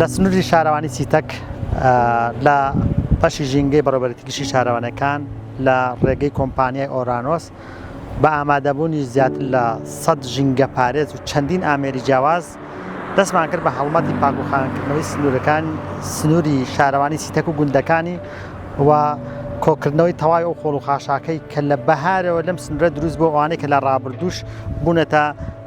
لە سنووری شارەوانی سیتەک لە بەشی ژینگەی بەڕێبەرێتی گشتی شارەوانەکان لە ڕێگەی کۆمپانیای ئۆرانۆس بە ئامادەبوونی زیاتر لە سەد ژینگەپارێز و چەندین ئامێری جیاواز، دەستمان کرد بە هەڵمەتی پاکوخاوێنکردنەوەی سنوورەکان، سنووری شارەوانی سیتەک و گوندەکانی و کۆکردنەوەی تەواوی ئەو خۆڵ و خاشاکەی کە لە بەهارەوە لەم سنوورە دروست بووە و ئەوانەی کە لە ڕابردووش بوونەتە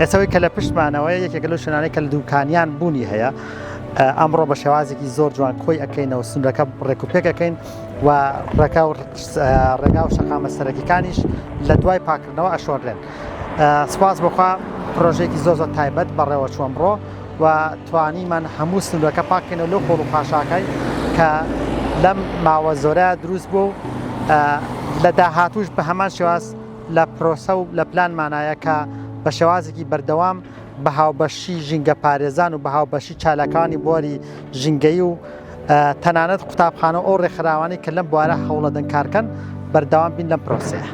ئێستا ئەوەی کە لە پشتمانەوە یەکێک لەو شوێنانەی کە لە دووکانیان بوونی هەیە ئەمڕۆ بە شێوازێکی زۆر جوان کۆی ئەەکەینەوە سنوورەکە ڕێک و پێکەکەین و ڕێکا و ڕێگا و شەقامە سەرەکیەکانیش لە دوای پاکردنەوە ئەشۆرێن سپاس بخوا پرۆژێکی زۆر زۆر تایبەت بەڕێوە چوەمڕۆ و توانیمان هەموو سنوورەکە پاک بکەینەوە لەو خۆڵ و خاشاکای کە لەم ماوە زۆرە دروست بوو و لە داهاتووش بە هەمان شێواز لە پرۆسە و لە پلانمانایە کە بە شێوازێکی بەردەوام بە هاوبەشی ژینگەپارێزان و بە هاوبەشی چالاکانی بواری ژینگەیی و تەنانەت قوتابخانە و ئەو ڕێکخراوانەی کە لەم بوارە هەوڵەدەن کارکەن بەردەوام بین لەم پرۆسەیە.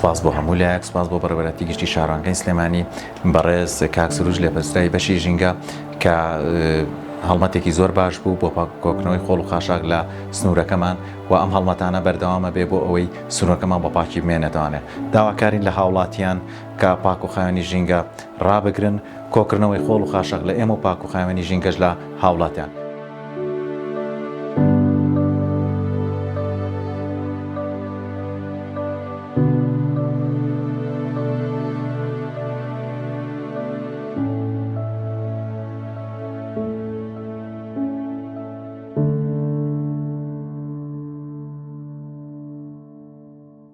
سپاس بۆ هەموو لایەک سپاس بۆ بەڕێوەراتی گشتی شارانگەی سلێمانی بەڕێز کاک سروش لە پرسرای بەشی ژینگە کە هەڵمەتێکی زۆر باش بوو بۆ پاکۆکنەوەی خۆڵ و خاشاک لە سنوورەکەمان و ئەم هەڵمەتانە بەردەوامە بێ بۆ ئەوەی سنوورەکەمان بە پاکی بمێنێتوانێت داواکارین لە هاوڵاتیان کە پاک و خاوێنی ژینگە ڕابگرن، کۆکردنەوەی خۆڵ و خاشاک لە ئێمە و پاک و خاوێنی ژینگەش لە هاوڵاتیان.